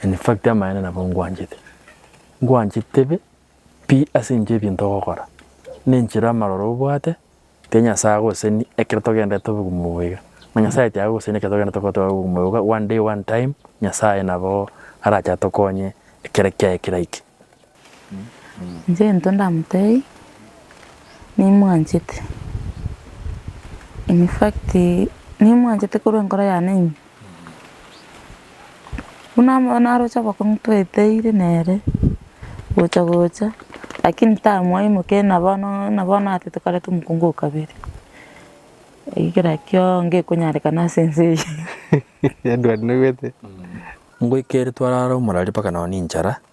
In fact amaene nabo ngwanchete. Ngwanchete be pi ase inche ebinto ogokora nenchera amaroro obwate tiga Nyasaye agoseni ekero togenderete obogumu obo iga. Na Nyasaye tiagoseni ekero togenderete gotoa obogumu obo iga one day one time Nyasaye nabo arache atokonye ekero kiaye keraike. Inche gento ndamotebie, nimwanchete, in fact nimwanchete korwa enkoro yane ime. Buna amo naroche abakong'u tweteire nere, gocha gocha, lakini tamwaimokia buna bono buna bono ata tokareta omokungu o kabere. Eki kera kio ngekonyarekana ase ense eye. Edward nobwate, ngoika ere twarara omorari mpaka nonye ne enchara.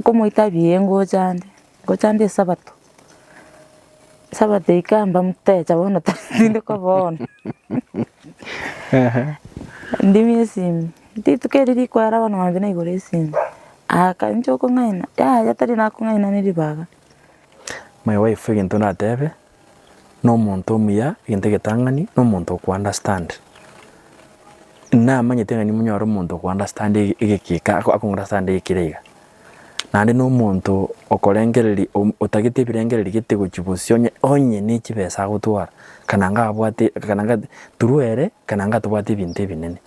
nkomoita buya ngocha ande, ngocha ande esabato, esabato eika mbamotecha bono tindi koba one. Ndimia esimi, rituko erio rikoera bono mambia naigora esimi, aka inche okong'aina, yaya tari nakong'aina ne ribaga. My wife egento natebe, nomonto omuya egento egetang'ani nomonto oko understand. Namanyete ng'a nimonyore omonto oko understand egekika ako oko understand egekire iga. Naende nomonto okorengereria om otagete ebirengereri gete gochia bosio onye onye ne chibesa agotwara kana ngabwate kana ngate through ere kana ng'a tobwate ebinto ebinene.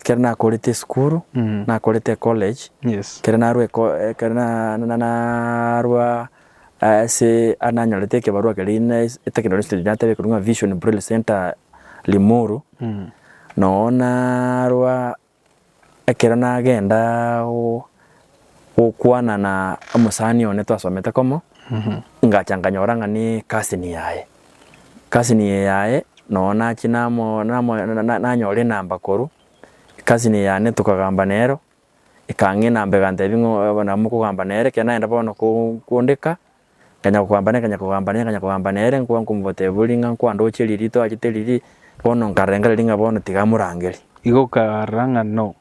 Ekero nakorete esukuru, nakorete ecollege, ekero narwa ekero narwa ase nanyorete ekebarua keria na eteknoloji stage nateba ekebarua ng'a Vision Braille Centre Limuru, noo narwa ekero nagenda gokwana na omosani one twasomete komo, ngacha nkanyora ng'a ne ekasi niyaye. Ekasini eye yaye nonya nachie namo namo nanyore enamba korwa ekasini eye yane tokagamba nero, ekang'e enamba egantebia ng'a oyo nabo mokogamba nere ekero nagenda bono koo kondeka, nkanya kogamba nere nkanya kogamba nere nkanya kogamba nere nko nkomotebia bori ng'a nkwandochie riria toachete riria, bono nkarora engareri ng'a bono tiga morangerie. Igo okarora ng'a no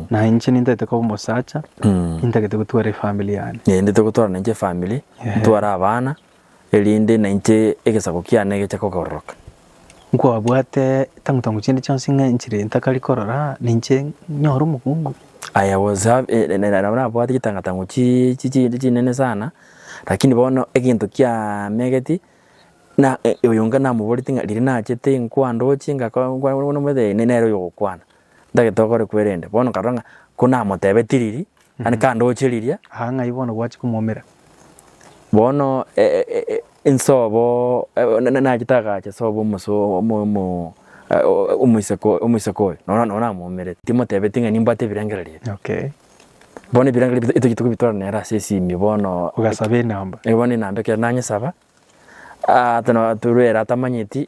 Na inche nintagete koba omosacha, nintagete gotwara efamili yane. Ee, nintagete gotwara nainche efamili, ntware abana, erinde nainche egesaku kiane geche kogaroroka. Nkwabwate tangutangu chinde chionsi ng'a enchera eye ntakari korora, ninche nyore omokungu. I was hav- e- e- nabo nabwate chitangatango chi- chi- chinde chinene sana, lakini bono egento kiamegetie, na e- oyo inga namoboreti ng'a riria nachete inkoa ndoche ngaka- ngwa- ngwa- ngwa- omanyete ee nere oyogokwana. Ntagete okore kwerende. Bono nkarora ng'a ko namotebe tiriri, yaani kandoche riria. Aa ng'ai bono gwachia komoumera? Bono e- e- e- e- insobo e- na- na- nachete agacha sobo omose o- omo- omo- e- o- omoiseke omoiseke oyo, noro noro namoumerete. Timotebeti ng'a nimbwate ebirengererio ebi. Okay. Bono ebirengererio ebi totagete kobitora nere ase esimie bono. Ogasaba enamba. Bono enamba ekero nanyesaba, aa tuna- turwere atamanyeti.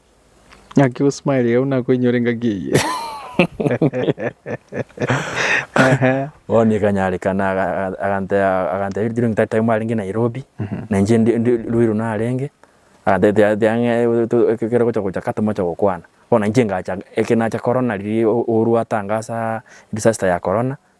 Ng'aki gosmile iga buna koinyora engaki eye. Ehe. Bono ikanyarekana aga- aga- agantebia agantebia ritiro ng'a tari time arenge Nairobi, na inche ndi ndi Ruiru narenge, agantebia tiga tiga ng'e to ekero ogocha gocha ka tomoche gokwana. Bono inche ngacha eke nacha korona riria o- Uhuru atangasa disaster ya korona,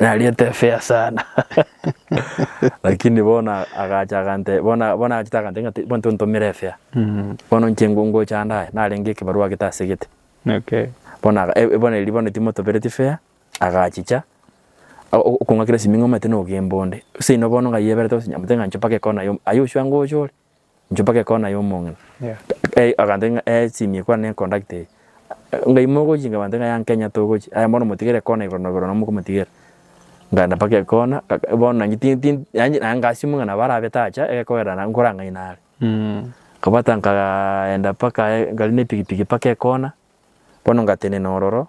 Nariete efea sana. Lakini bono agacha agante bono bono agachete agante ng'a ti- bono tontomera efea. Mm. Bono inche ngo- ngocha ande aya narenge ekebarua agete ase egete. Okay. Bono aga e- e bono erio bono timotobereti fea, agachicha o- o- okong'akera esiming'omete nogemba onde. Seino bono ng'ai eberete gose nyamoteba ng'a inche mpaka ekona yom aye osuange oche ore. Inchuo mpaka ekona yomong'ina. Eh, agantaki ng'a eh, simia ekwana ne conduct eye. Ngai mogochi nga bantaki ng'a young Kenya togochi. Aya bono motigere ekona igoro na igoro na mokomotigera. Nganda mpaka ekona, bono nanye ti ti yaani naye ngasio mong'ina nabo arabete acha egekogerera na nkora ng'ai nare. Nkabwata nkagaa enda mpaka eh, ngari ne pikipiki mpaka ekona, bono ngatenena ororo,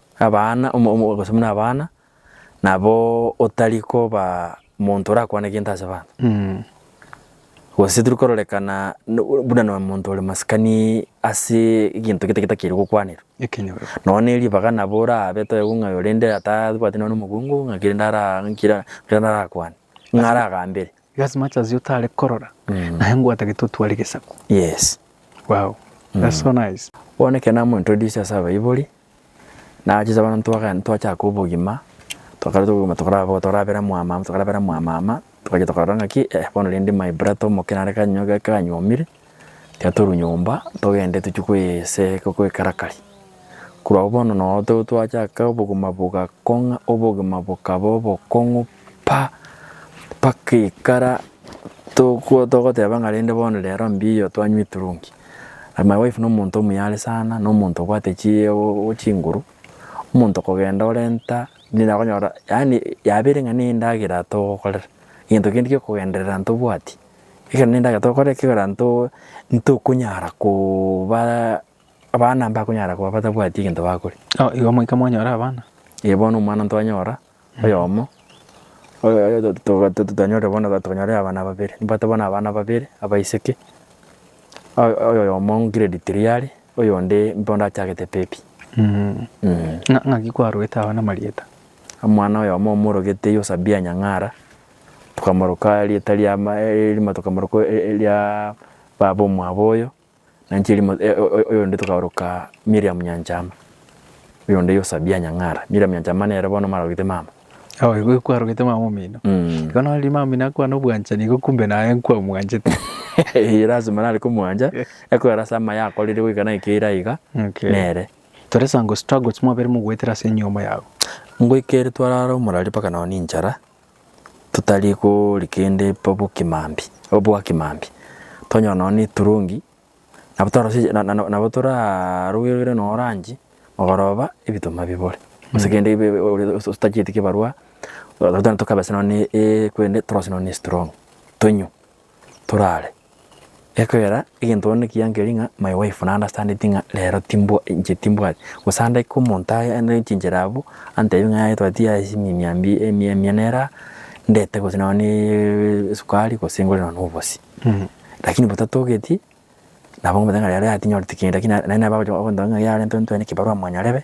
Abana, gose buna abana, nabo otari koba monto orakwane gento ase abanto. Gose tiri kororekana buna nonya monto ore masikani ase egento gete getakeire gokwanerwa. Nonya ne ribaga nabo orabe toegwe ng'a oyo rende atabwati nonya na omogongo ng'aki rende ara arakwane, ng'a aragambere. Igo as much as otare korora, naye nigo atagete otware gesaku. Yes. Wow. That's so nice. Bono ekero namointroducia ase abaibori. Nachiche bono ntwagaenda twachaka obogima, twakareta obogima tokaraba bobe tokarabera mwamama tokarabera mwamama, twagachia tokarora ng'aki eh bono rende my brata omoke nare kanywa gaki kanyuomire, tiga torwe nyomba togende tochie koyesee goikarakari. Korwa agwo bono noo to twachaka obogima bogakong'a obogima bokaba obokong'u. Pa, mpaka ekara tokwo togoteba ng'a rende bono rero mbiyo twanywa eturungi. And my wife nomonto omuyare sana, nomonto obwate chi o- chinguru, omonto kogenda orenta nigo akonyora yaani yabeire ng'a ne endagera togokorera, egento kende kia okogenderera ntobwati, ekero ne endagera togokorera ekegera nto ntokonyara koobaa abana mbakonyara koba batabwati egento bakoria. Igo moika mwanyora abana? Ee bono omwana ntwanyora, Oyomo, totanyorire bono tokonyora abana babere, nibabwate bono abana babere abaiseke, oyomo grade three are, oyonde mbondo achagete baby. Ng'aki kwarogete abana amarieta? Omwana oyomo omorogete Yosabia Nyang'ara, tokamoroka erieta ria, erimo tokamoroka eria baba omwabo oyo. Na nchieri mo- e- o- o- oyonde tokaoroka Miriam Nyanchama, oyonde Yosabia Nyang'ara. Miriam Nyanchama nere bono omarogete mama. Aye igo kwarogete mama omino. Mm. Igo nari mama omino akwana obwanchani igo kumbe naye nkwamwanchete. Eye lazima nare komwancha, ekorera ase amaye akorire goika naike eira iga, Okay. nere. Tore sango struggles mwabere mogoetera ase enyiomo yago. Ngoikere twarara omorari mpaka nao ninchara, totari kori kende bobokimambi, obwakimambi, tonyora nonya na eturungi, nabo twarosirie na- na- nabo torarugerugere nonya oranche mogoroba ebituma bibore, gose kende ebe ebe ore ore otachieti kebarwa, tokabesa nonya na e- e ekwende torosie nonya na estrong tonywe, torare. Ekeogera egento bono ekiyankeri ng'a my wife na understandeti ng'a rero timbwa inche timbwati gose andeke omonto aye ande chinchera abwo antebi ng'a yaye twati yaye chimiamia mbi emia emia nere aa ndete gose nonye neeee esukari gose ngore nonye na obosie. Lakini botatogeti nabo ngomotebia ng'a rero yaye tinyoreti kende lakini naende nabo agocha gontebia ng'a yarenta ntwae nekebarua monyarebe.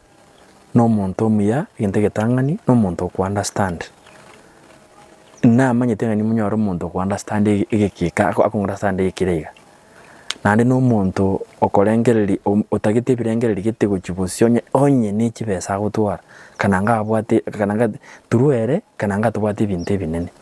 nomonto omuya egento egetang'ani na omonto oko understand. Namanyete ng'a nimonyore omonto oko understand egekika ako oko understand egekire iga. Naende na omonto okorengereria om otagete ebirengererio gete gochia bosio onye onye ne chibesa agotwara kana ngabwate kana ngate through ere kana ng'a tobwate ebinto ebinene.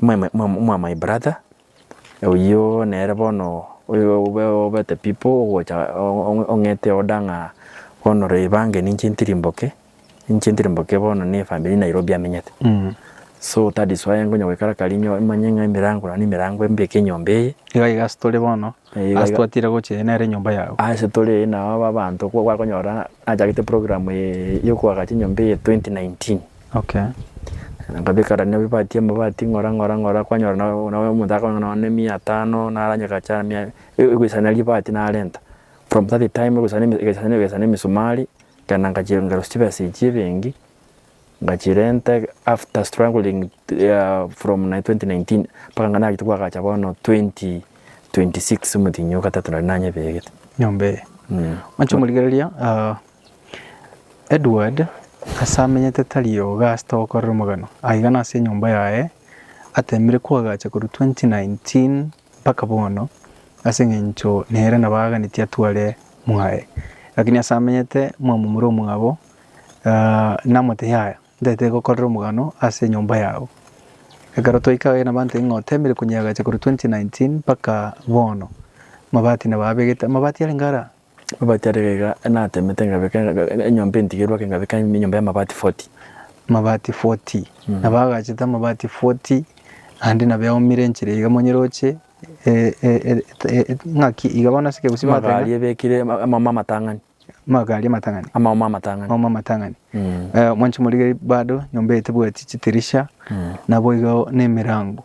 My my my mwa my brother oyio nere bono oyo obe obete pipo ogocha ong'ete order ng'a bono reba ange ninche ntiri mboke ninche ntiri mboke bono ne efamiri eye Nairobi amenyete so that is why ngonya goikara kare inye manye ng'a emerango naende nemerango embe eke enyomba eye Iga iga ase tore bono, Ee, iga ase iga. twatire gocha eye nere enyomba yago. ase tore eye nao aba abanto ko- gwakonyora Nachagete program eye yokoaga chinyomba eye 2019 na nkabeka rani amabati amabati ng'ora ng'ora ng'ora kwanyora nao nao omonto akoba nao ne mia tano naranyeka achara mia e- egoisana ribati narenta from that time egoisana eme egesana egesana emisumari ekero nangachirengerwa chibesa echi ebenki. Ngachirenta after struggling from 2019 mpaka ng'a nagete koagacha bono 2026 omotienyi o gatato nari nanyebegete. Nyomba eye. Mm. Manche omorigereria ah, Edward ase amenyete tari oga ase togokorera omogano. Aiga nase enyomba yaye atemire koagacha korwa 2019 mpaka bono, ase engencho nere nabo aaganetie atware mwaye. Lakini ase amenyete mwamomura omwabo, namotebia, Yaya, ntaete gokorera omogano ase enyomba yao. Ekero twaika aye nabo antebia ng'a oteemire konyeagacha korwa 2019 mpaka bono, amabati nabo abegete. Amabati arenge ara? Amabati aria gaiga natemete ngabeka enyomba entigerwe ake ngabeka enyomba y'amabati 40. Amabati 40. Nabo agachete amabati 40, ande nabo eaumire enchera iga monyene roche e- e- e- e- e- ng'aki iga bono ase ekegusi Magari bateba ebekire ama- amaomo amatang'ani. magari amatang'ani. Amaomo amatang'ani. Amaomo amatang'ani. Mm. Eh, mwanche morigeri bado nyomba eye tebwati chitirisha, nabo igo nemerango.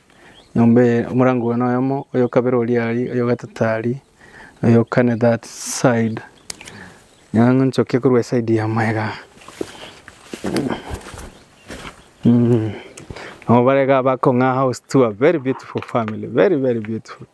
Nyomba eye omorango oyo noyomo, oyo kabere oria ari, oyo gatato ari, oyo kane that side. Nyang'a nchoke korwa eside ya maega. Mm. Nabo barega bakong'a house tour, very beautiful family, very very beautiful.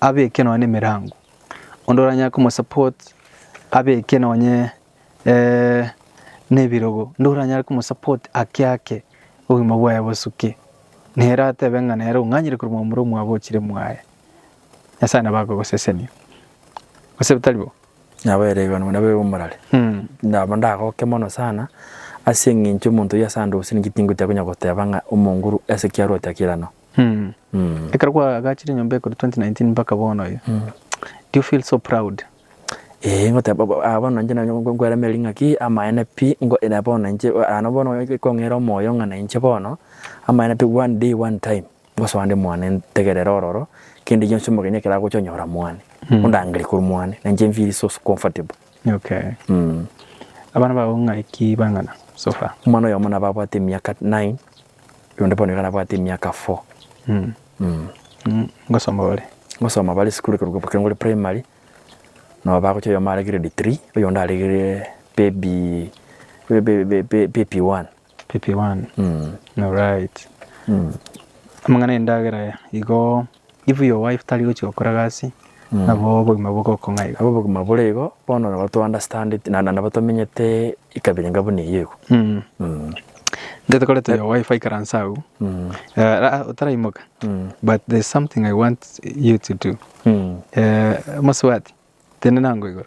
abeke nonye nemerango, onde oranyare komosupport abeke nonye nebirogo, onde oranyare komosupport ake ake obogima bwaye bosuke, nere atebe ng'a nere ong'anyire korwa momura omwabo ochire mwaye. Nyasae nabo agogosesenia, gose tari bo? Nabo ere igoro nabo ere omorare. Nabo ndagoke mono sana ase eng'encho omonto oyio ase ande gose ninki tingotia konya goteba ng'a omonguru ase kiarote ake irano. Ekero kwagachire enyomba ekero 2019 mpaka bono eye. Do you feel so proud? Ee ngoteba bo- ah, bono inche nanye nko- nkoera meri ng'aki amaene pi ngo ere bono inche o- ano bono e- ekong'eire omoyo ng'a na inche bono amaene pi one day one time ngosoa nde mwane ntegerere ororo kende gionsi omogeni ekero agocha onyora mwane ondangere korwa mwane na inche nfeel so comfortable. Okay. Abana bao ng'aki bang'ana so far? Omwana oyomo nabo abwate emiaka nine. Onde bono iga nabwate emiaka four. Ngosoma bare? Ngosoma bare esukuru ekerokwa Bokengori Primary, nabo bagocha oyomo are grade three, oyonde are baby baby one. Baby one, alright. Amang'ana 'endagera igo. If your wife tari gochia gokora gasi, nabo obogima bogokwa ng'ai iga? Obogima bore igo, bono nabo to understand it, na nabo tomenyete ekabirenga buna eyio igo. Mm. Mm. Get kore to your wife aikaranse agwo. Mm. Eh, ra- otaraimoka. Mm. But there's something I want you to do. Mm. Eh, mosubati, tende nango igoro.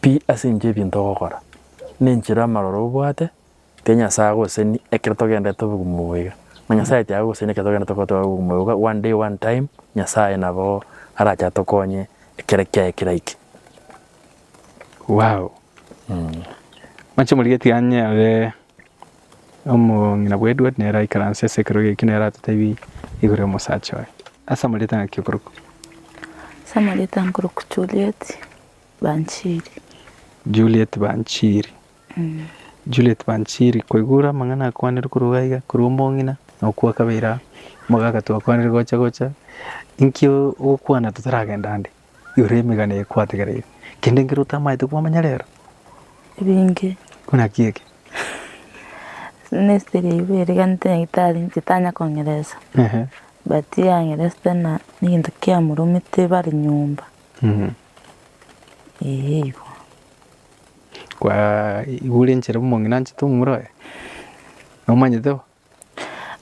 pi ase enchera y'ebinto ogokora, na enchera amaroro obwate, tiga Nyasae agoseni ekero togenderete obogumu obo iga, na Nyasae tiagoseni ekero togenderete goteba obogumu obo iga, one day one time Nyasae nabo arache atokonye ekero kiaye keraike. Waw mwanche morigetie iga onye nere omong'ina bwa Edward nere aikaranse ase ekero giaike nere atotebi igoro y'omosacha oye. Ase amarieta ng'aki okorokwa? Ase amarieta nkorokwa Juliet. Banchiri. Juliet Banchiri. Juliet Banchiri, Koigora amang'ana akwanire korwa iga iga, korwa omong'ina na okwa kabere aa, omogaka twakwanire gocha gocha, inki ogokwana totaragenda ande igoro y'emegano eye kwategereire? Kende nkere otamaete kwamanya rero? Ebinge. Buna ki eke? Ministry ya Igwe eriganete nyagetari inche tanya kong'eresa, but yang'eresete na egento kiamoromete bare nyomba. Eeh igo. Kwaigure enchera omong'ina anchete omurae? Nomanyete bo?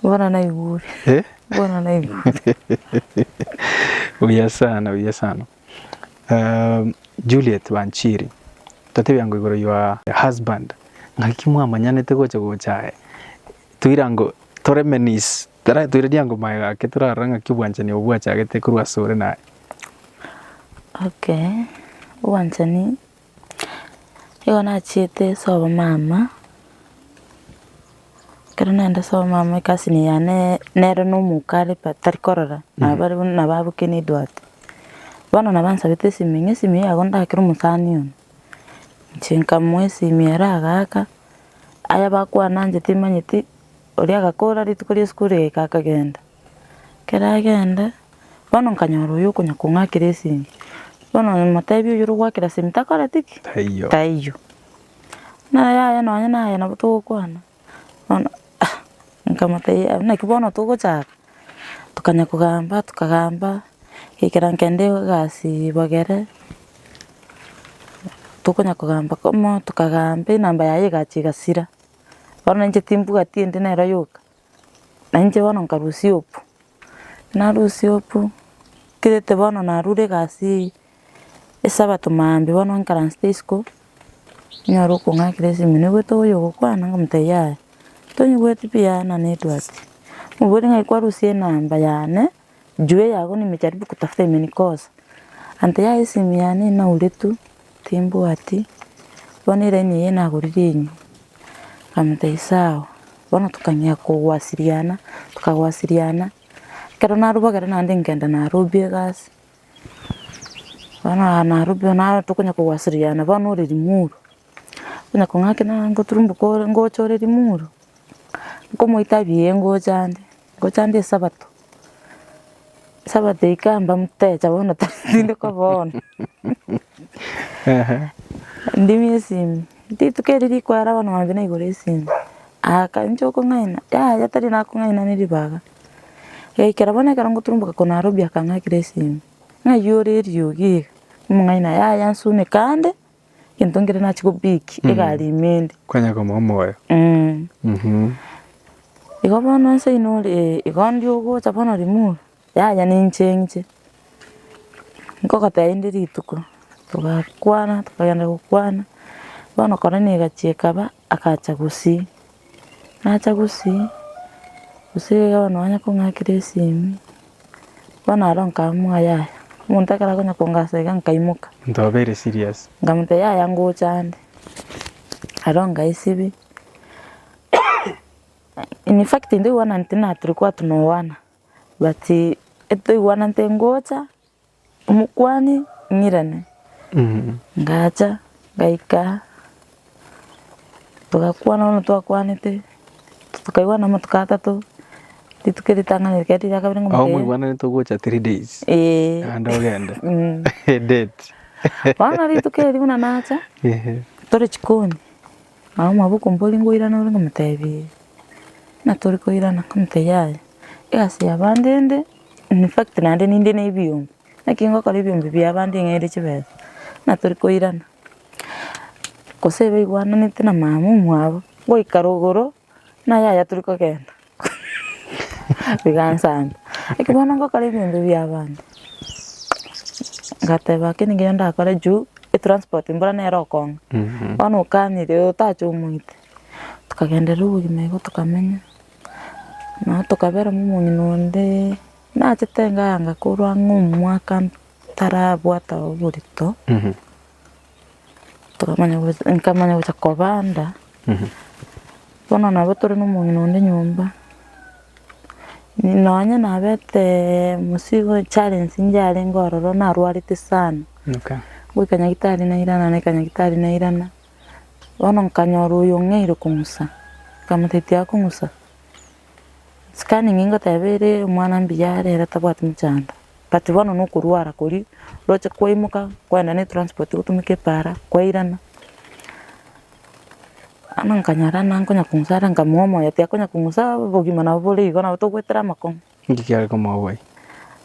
Bono naigure. Eh? Bono naigure. Buya sana, buya sana. Uh, Juliet Wanchiri, tatebia ngo igoro your husband ng'aki mwamanyanete gocha gocha aye toira ngo tore menis Taratoire riango maega gake torarora ng'aki obwanchani obwo bwachagete korwa ase ore naye. Okay, obwanchani nigo nachiete ase obomama, ekero naenda ase obomama ecousin yane nere na omoka are but tari korora nabo bare buna nabo abokire edwate. Bono nabo ansabete esimi, ng'a esimi eye yago ndakere omosani one, inche nkamoa esimi ere agaaka, aya bakwananchete manyeti. Oria agakora rituko ria isiko riaika akagenda. Ekero agenda, bono nkanyora oyo okonya kong'akera esinki. Bono motebia oyore ogwakera esinki takoreti ki? Taiyo. Taiyo. Buna yaya nonye naye nabo togokwana, bono nkamotebia "Ah, naki bono togochaka? Tokanya kogamba tokagamba, agaikera nkende egasi ibogere, tokonya kogamba komo, tokagamba enamba yaye egacha egasira. Bono inche timbwati ende nero yoka, na inche bono nkarusia opu, narusia opu, nkirete bono narure egasi eyio, esabato maambia bono nkaransete isiko, nyore okong'akera esimi, naigwete oyo ogokwana nkamotebia yaya, tonyiweti pi yaya nane etwati, omobori ng'ai kwarusia enamba yane. Juu yago nimejaribu kutafuta imenikosa ante yaye esimu yane inaure tu timbwati bono eraini eye nagorire enye nkamotebia sawa bono tokang'ea kogwasiriana tokagwasiriana ekero narubagera naende nkenda narobia egasi bono aa narobia naye tokonya kogwasiriana bono ore rimuru onya kong'akena ngoturumbuka ore ngocha ore rimuru. Nkomoita buya ngochande, ngochande esabato, esabato ika'a mbamotecha bono tindi koba one. Ndimia esimi, rituko erio rikoera bono mambia naigora esimi, aka inche okong'aina, yaya tari nakong'aina ne ribaga. Yaikera bono ekero ngoturumboka korwa Nairobi akang'akera esimi, ng'ai ore eriogi iga? Omong'aina, yaya nsumeka ande. egento nkere nachie kobiki egari ime ende. Kwanyara kobua omoyo. Igo bono nse oino ore igo ndio ogocha bono rimuru, yaya ninche nche, nkogotebia rinde rituko, togakwana tokagenda gokwana, bono korona egachia ekaba. Agacha gosii, nacha gosii, gose iga bono nonye kong'akire esimi, bono aro nkaamua yaya, omonto ekero akonya kongasa iga nkaimoka. Omonto obeire serious. Nkamotebia yaya ngocha ande, aro nkaisibia, in fact ntoigwananeti na tiri kwatunoana but etoigwananete ngocha. Omokuani ng'irane, ngacha ngaika togakwana bono twakwanete, tokaigwana amatuko atato, rituko eritang'ani rikaba riria kabere ng'a Aho omotebia, mwaigwananete ogocha three days ee. naende ogende Mm. date Bono rituko erio buna nacha, Ehe. tore chikoni, nabo mwabo okombori ngoirane ore ng'omotebia ee, buna tori koirana, ng'omotebia yaya, egasi ya bande ende. In fact naende ninde ne ebiombe, naki ngokora ebiombe bia abande ng'aire chibesa, buna tori koirana. Gose iga oigwananete na mama omwabo, goika rogoro, buna yaya tori kogenda, bigansamba. Naki bono ngokora ebiombe bia abande, ngateba ake nigo nigo ndakore juu etransport mbura nere okong'a. Bono okanyire otache omoite, tokagenderera obogima igo tokamenya. Nabo tokaberwa nomong'ina onde nachete iga yanga korwa ng'a omwaka ntarabwate oborito, tokamanya gocha nkamanya gocha kobanda, bono nabo tore na omong'ina onde nyomba, nonye nabete mosigo challenge nchiarenge ororo narwarete sana, goika nyagitari nairana naika nyagitari nairana. Bono nkanyora oyo ng'eire kong'usa, nkamotetia akong'usa, sikani ng'ai ngoteba ere omwana mbuya are ere tabwati mochando, but bono na okorwara koria, roche kwaimoka kwaenda na etranspoti gotumeka epara, kwairana. Bono nkanyora ng'a nkonya kong'usa are nkamoa omoyo tiakonya kong'usa, obogima nabo bore igo nabo togoetera amakong'u. Inki kiare komoa oboyia?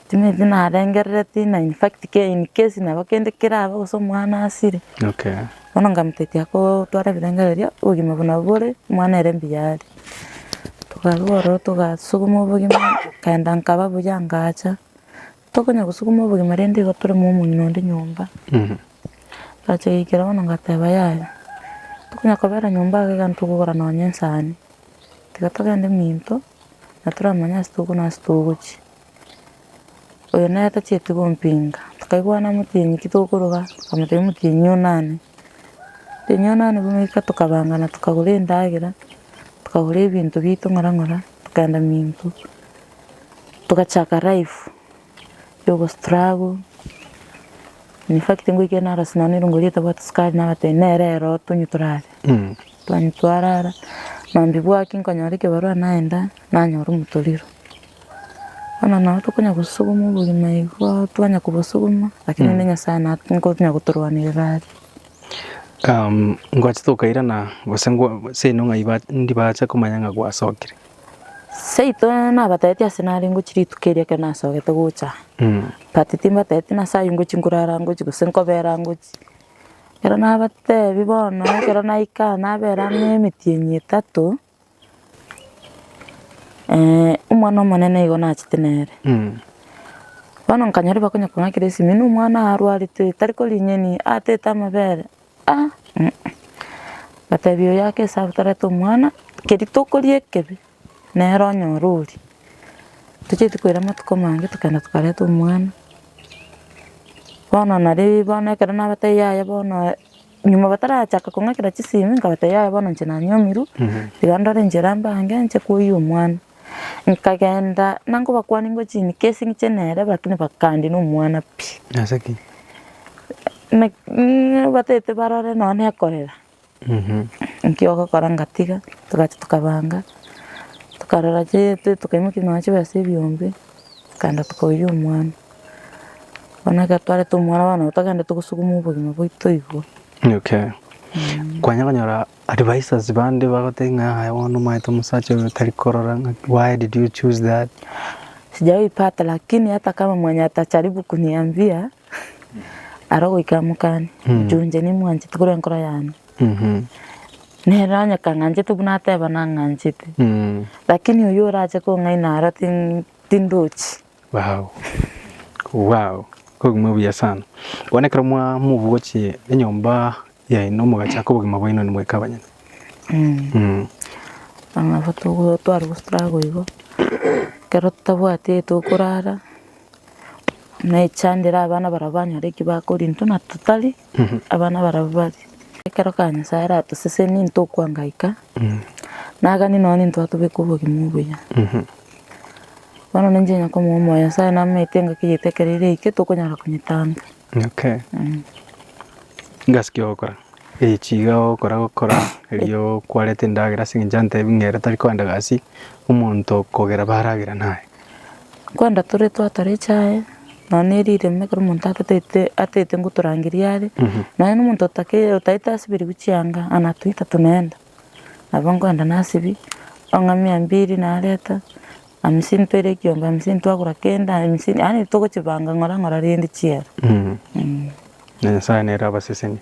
Timanyeti narengerereti na in fact ke in case nabo kende kerabe gose omwana asire, Okay. bono nkamotebia gotwara ebirengererio erio obogima buna bore omwana ere mbuya are. Tokarwa ororo togasuguma obogima, nkaenda nkaba buya ngacha, Tokonya gosukuma obogima rende igo toreme omong'ina onde nyomba. Ngacha goikera bono ngateba yaya, tokonya kobera nyomba iga iga ntokogora nonya ensani. Tiga togende minto na toramanye ase tokwa na ase togochia. Oyo nere tachieti gompinga. Tokaigwana motienyi ki tokoroga, nkamotebia motienyi o nane. Motienyi o nane bono oika tokabangana tokagora endagera, tokagora ebinto bito ng'ora ng'ora, tokagenda minto. Togachaka life ya ogo struggle, in fact ngoikera arose nonya eriongo eria ritabwate sukari nabatebi nere ere otonywe torare, twanywa twarara, maambia bwaki nkanyora ekebarua naenda nanyora omotoriro. Bono nabo tokonya gosuguma obogima igo twanya kobosuguma lakini ere Nyasae na nkonya gotorwanerera are. Ngochi tokairana gose gose enong'a ndibache komanya ng'a gwasokire. Seito nabatetie ase nare ngochie rituko erio ekero nasogete gocha aa, but timbatetie nase ayio ngochia nkorara ngochia gose nkobera ngochia. Ekero nabatebia bono ekero naika aa nabera amo emetienyi etato, omwana omonene igo nachete nere. Bono nkanyora bakonye kong'akera esimi buna omwana oyo arwarete oyo tari korigia aa tete amabere. Aa, aa, ngatebia oyo ake esabu tarete omwana, keri tokoria ekebe, nere onyore oria. Tochieti koira amatuko amange tokagenda tokareta omwana, bono naria bono ekero nabatebia yaya bono, nyuma batarachaka kong'akera chisemi, nkabatebia yaya bono inche nanywomirwe, tiga ndore enchera mbange nche koiyia omwana. Nkagenda na nkobakwania ingo chinike ase eng'encho nere, lakini bakandina omwana pi. Ase ki? Naki ng'a batete barore nonya na ekorera, nki ogokora ngatiga, togacha tokabanga, tokarora chii to- tokaimokia nonya chibesa ebiombe, tokaenda tokoiyia omwana. Bono ekero twareta omwana bono nabo togenda togosuguma obogima bwaito igoro. Okay. Kwanyara konyora Advisors bande bagotebia ng'a yaya bono omaete omosacha oyo tari korora ng'a why did you choose that? Sijawaipata lakini hata kama mwenye atajaribu kuniambia arogoika mokane Mm. juu inche nimwanchete korwa enkoro yane Mhm. nere onye kang'anchete buna ateba nang'anchete Mm. lakini oyo orache kong'aina aro tin- tindochi Wow. Wow. Obogima obuya sana. Bono ekero mwa- mobugochie enyomba yaino mogachaka obogima bwaino nimweka abanyene. Nabo togo tware gostruggle igo, ekero totabwati aye tokorara, na echandere abana barabwo banyore eki bakoria intwe na totari, abana barabwo baria. Ekero kare Nyasae aratosesenie ntokwanga goika, nagani nonya intwe atobeke obogima obuya. Bono ninche onye komoa omoyo Nyasae namaete engaki yaito ekero ere eke, tokonyara konyetangia. Inaki ngasike gokora? Ee, chiga ogokora gokora erio kwareta endagera ase eng'encho ntebi ng'a ere tari kwenda gasi omonto kogera baragera naye. Kwenda tore twatara echae, nonya ne rireme ekero omonto atatete atatete ngotorangeria are, nonya na omonto otake otaete asibirigwe chianga, ana toita tonaenda. Nabo nkoenda nasibi, ong'a mia mbiri nareta, hamsini toira ekiombe hamsini twagora kende hamsini yaani togochibanga ng'ora ng'ora rende chiera. Na Nyasaye nere abasesenie.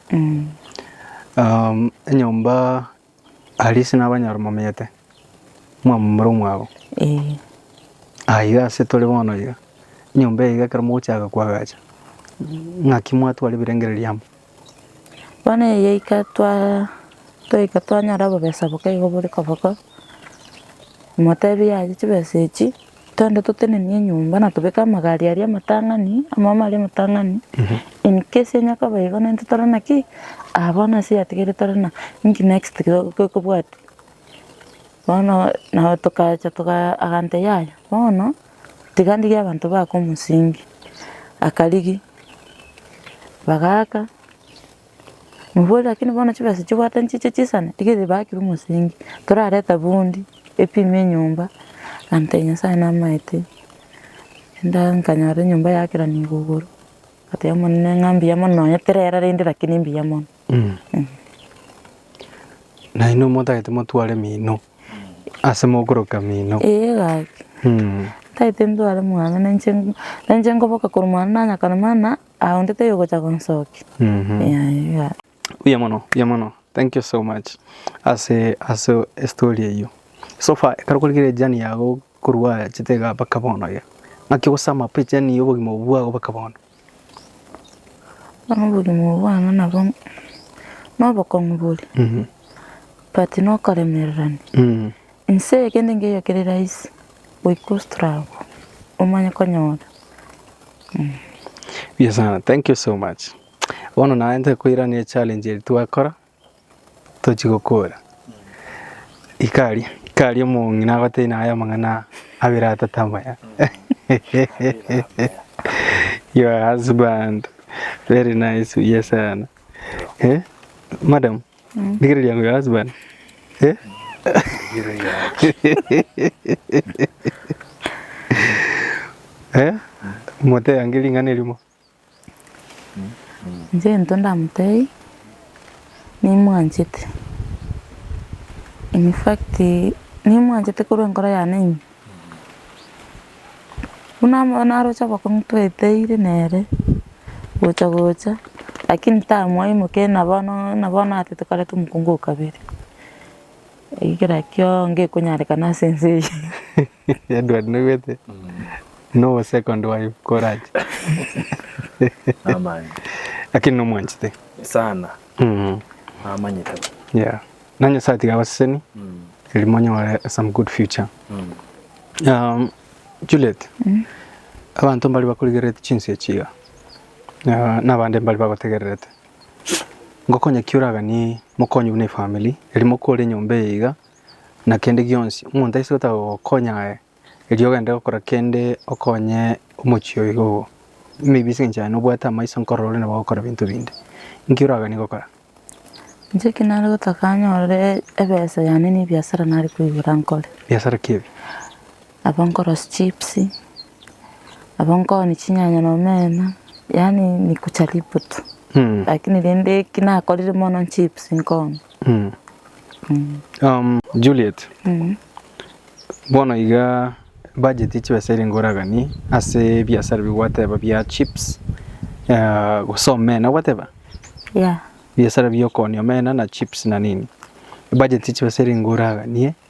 Um, enyomba Alice na abanyoro momenyete mwamomera omwago Ee, aiga ase tore bono iga enyomba eye iga ekero mogochaka koagacha ng'aki mwatwara ebirengererio amo Bono eye yaika twaa twaika twanyora obobesa boka igo bore koboko, moteebia aye chibesa echi twende totenenie enyomba na tobeke amagari aria amatang'ani, amaomo aria amatang'ani, in case onya koba igo nere intwe tore naki? Aah bono ase eyatigeire tore na inki next kigo- ko- kobwati? Bono nabo tokacha togaa agantebia yaya bono. Tiga ndigie abanto baaka omosingi. Akarigia, bagaaka, omoborie lakini bono chibesa chibwate nchiche chisane? Iga ere ebakire omosingi, torareta bundi, epime enyomba, ante Nyasae namaete, enda nkanyora enyomba yakeranigo igoro, ngateba Omonene ng'a mbuya mono nonya terera rende lakini mbuya mono, eh. Nainwe motagete motware mino. Ase mokoroka mino. Ee gaki. Mm. Taete ndware mwane na inche nk- na inche nkoboka korwa mwane nanyakana mana aye onde taiyo ogocha konsokia. Mhm. Yaani ga- Buya mono, buya mono. Thank you so much ase ase estory eyio. So far ekero okorikire ejourney yago korwa oachete igaa mpaka bono iga, naki ogosama pi ejourney ya obogima obwo bwago mpaka bono? Bono oborimo obo bwane nabo nobokong'u bore, but nokoremererania. Inse eye kende nkeiyo kere rahisi goika ostruggle omanye konyora. Mbuya sana, thank you so much. Bono naye ntokoirania echallenge eri twakora. tochi gokora. Ikari ikari omong'ina agotebia naye amang'ana abere atato amaya your husband very nice buya sana eh madam rigereria yango your husband eh eh motebia nge ring'ana erimo. Inche gento ndamotebie, nimwanchete, infact nimwanchete korwa enkoro yane ime. Buna amo naroche abakong'u tweteire nere, gocha gocha, lakini tamwaimokia ng'a bono ng'a bono atoto kare tomokungu o kabere. Ekero ekio ngekonyarekana ase ense eye. Edward noigwete no second wife korache Namanya. lakini nomwanchete Sana. Mm. Namanyete. Yeah. Na Nyasaye tiga abaseseni eri monyore some good future. Um, Juliet, abanto mbari bakorigererete chinse echi iga, na- nabande mbari bagotegererete. ngokonya ki oraganie mokonyi buna efamiri eri mokore enyomba eye iga na kende gionsi. Omonto aise gotaga gokonya aye erio ogende gokora kende okonye omochie oyo iga obo. Maybe ase eng'encho aye nobwate amaiso nkorora ore nabo ogokora ebinto binde. Nki oraganie gokora? Inche eki nare gotaka nyorore ebesa yane na ebiasara nare koigora nkore. Biasara ki ebi? Abwo nkorosia chips, abwo nkooni chinyanya na omena, yaani nikujaribu tu, lakini rende eki nakorire mono nchips nkooni. Juliet, bono iga ebudget ya chibesa erenge oraganie ase ebiasara ebi gwateba bia chips gose omena gwateba? Yeah. Ebiasara biokooni omena na chips na nini, ebudget ya chibesa erenge oraganie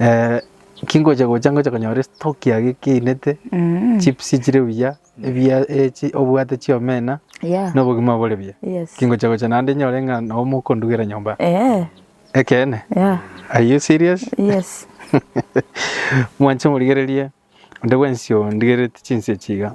Eh, kingocha gocha ngocha konyora estoki age keinete Mm. chips chire buya ebia echi obwate chiomena Yeah. na obogima bore buya Yes. kingocha gocha naende nyore ng'a nabo mokondugera nyomba Eh. ekeene Yeah. are you serious Yes. mwanche morigererie onde bwensi ondigereti chinse chiga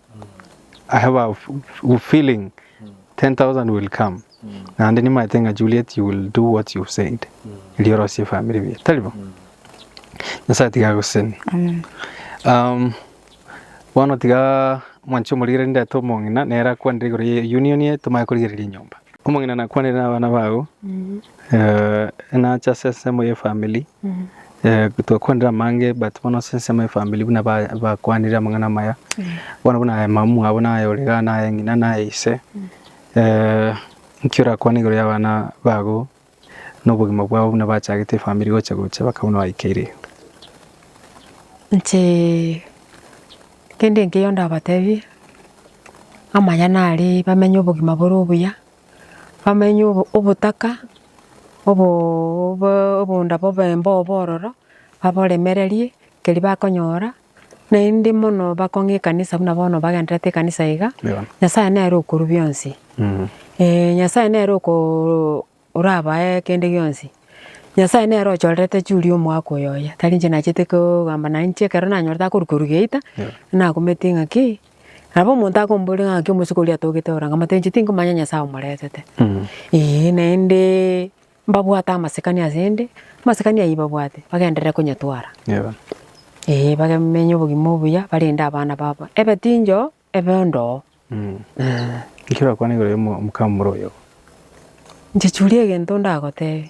I have a f- feeling 10,000 will come. Naende nimaete ng'a Juliet you will do what you've said. Erio orosie family mia. Taribo? Nyasaye tiga agoseni. Amen. Um, bono tiga mwanchi omorigere ndete omong'ina nere akwanire igoro ye union ye tomaye korigereria enyomba. Omong'ina nakwanire na abana bao. Eh, enacha ase ensemo ye family. Twakwanire amange but bono ase ensemo efamiri buna bakwanire amang'ana amaya bono buna aye mamomwabo naye ore igaa naye ng'ina naye ise nki orakwane igoro y'abana bago nobogima bwabo buna bachagete efamiri gocha gocha baka buna baikeirie? Inche kende nkeiyo ndabatebie amaya nare bamenye obogima bore obuya. bamenye obotaka obonda bobe mbobe ororo, baboremererie keria bakonyora, naende mono bakong'e ekanisa buna bono bagenderete ekanisa iga, Nyasaye nere okorwa bionsi. Nyasaye nere orabae kende gionsi. Nyasaye nere ochorerete churi omoaka oyoyia, tari inche nachete kogamba nainche ekero nanyorete akorwa korwa geita, nakumete ng'aki Nabo omonto akomboria ng'a naki omosike oria atogete ororo, nkamotebia inche tinkomanya Nyasae omoretete. Eeh naende mbabwate amasikani ase 'ende, amasikani ayio babwate bagenderere konyetwara. Eeh bamenye obogima obuya barende abana babo ebe tinchoo ebe ondoo. Ekero orakwana igoro ya omokama omorua oyogo. Inche chiuria egento ndagotebie.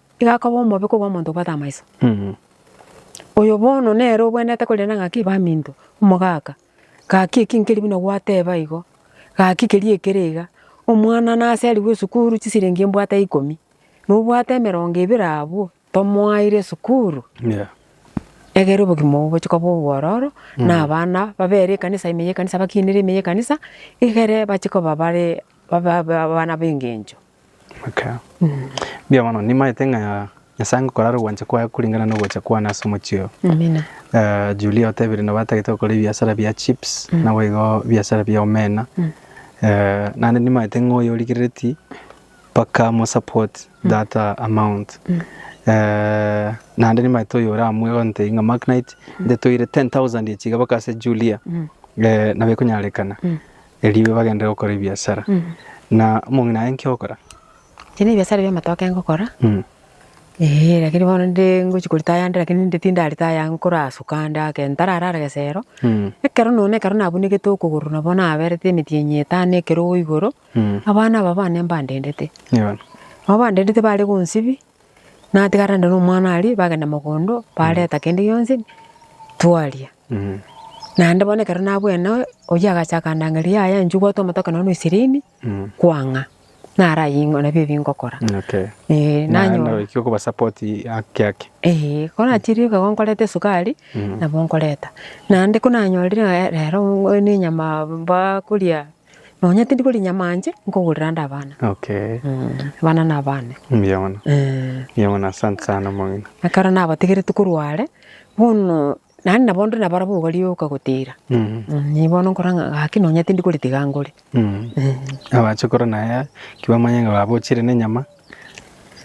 Iga akoba omobe kobua omonto obwate amaiso. Oyo bono nere obwenerete korenda ng'aki baminto, omogaka, gaki eki nkeri buna gwateba igo, gaki keria ekere iga, omwana naserigwe esukuru chisiringi mbwate ikomi, nobwate emerongo ebere abwo, tomoaire esukuru, egere obogima obwo bochie koba obwororo, na abana babere ekanisa ime y'ekanisa bakinere ime y'ekanisa, egere bachie koba bare abana b'engencho. Okay. Mbuya mono, nimaete ng'a Nyasae ngokorara ogwancha kwaye kuringana nogocha kwane ase omochie oyo. Amina. Eh, Julia otebire nabo atagete gokora ebiasara bia chips mm. nabo igo biasara bia omena mm. eh, nande nimaete ng'a oyo origerereti mpaka mo support mm. that uh, amount mm. eh, nande nimaete oyo oramwe gonte ng'a Mark Knight mm. ndetoire 10000 echiga baka ase Julia mm. eh, nabo ekonyarekana mm. Erio bagende gokora ebiasara. Na omong'ina aye nki ogokora? Ebi nebiasara bi'amatoke ngokora, ee lakini bono nde ngochia koreta ayande lakini ninde tindarete aya nkora asuka ande ake ntararara gesero, ekero nonya na ekero nabunekete okogoro nabo naberete emetienyi etano ekerogo igoro, abana aba bane mbandendete. Nabo bandendete bare gonsibia. Natigarane nomwana aria, bagenda mogondo, bareta kende gionsi, twaria. Naende bono ekero nabwene noe, oyio agacha akandang'aria, yaya inchuo gwatwa amatoke nonya na ishirini, kwang'a, naraye ing'o nabio ebi ngokora. Okay. Eh, Naende nanyora. oikire okobasupport haki haki. Eeh, ko nachirie iga igo nkoreta esukari, nabo nkoreta. Naende ko nanyorire ng'a rero ninyama bakoria Nonya tindi kori nyama anje nkogorera ande abana. Okay. Abana na abane. Mbuya mono. Eh. Mbuya mono asante sana omong'ina. Ekero nabategerete korwa are, bono naende nabo ndore nabarabwo iga rioka gotira. Mm. Inye bono nkora ng'a gaki nonya tindi kori tiga ngore. Mm. Eh. Abache kora naye ki bamanye ng'a baba ochire na enyama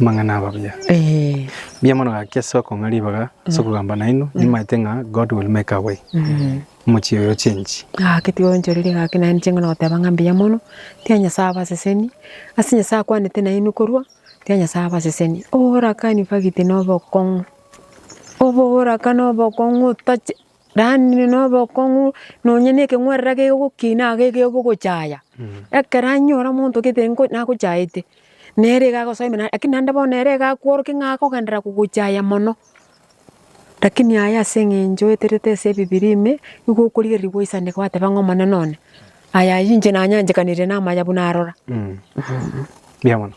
amang'ana aba buya. Eh. Mbuya mono gaki ase okong'a ribaga ase okogamba naino nimaete ng'a God will make a way. Mm. Omochie oyo ochenchi. Gaki tigoonchoreria gaki naende nichienge na goteba ng'a mbuya mono, tia Nyasae abaseseni, ase Nyasae akwanete nainwe korwa, tia Nyasae abaseseni. Oborakani nfagiti na obokong'u, oboboraka na obokong'u otache yaani na obokong'u nonya na ekeng'werera kegokina iga ekero bogochaya, ekero anyora omonto gete ngo nagochaete, nere iga agosoimera lakini naende bono ere iga akworokia ng'a akogenderera kogochaya mono. Lakini aye ase engencho oeterete ase ebibiria ime, nigo okorigereria goisana gwateba ng'a Omonene one, Aya ayio inche nanyanchekanirie namanya buna arora. Mbuya mono.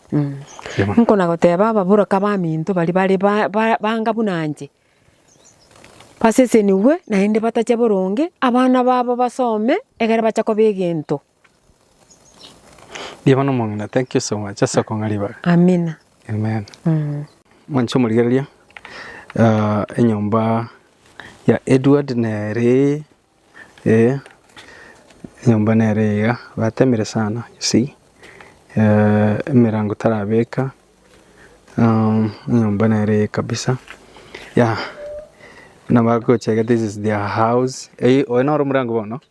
Nkona goteba ababoraki abaminto baria bare ba- ba- banga buna inche, basesenigwe naende batache boronge, abana babo basome, egere bache koba egento. Riaba nomong'ina thank you so much ase okong'a ribaga. Amina. Amen. Mm. Mwanche omorigereria ah, enyomba ya Edward nere eh, enyomba nere iga batemire sana you see eh, emerango tarabeka um, enyomba nere iga kabisa ya nabagochega this is their house Eh, oyo noro omorango bono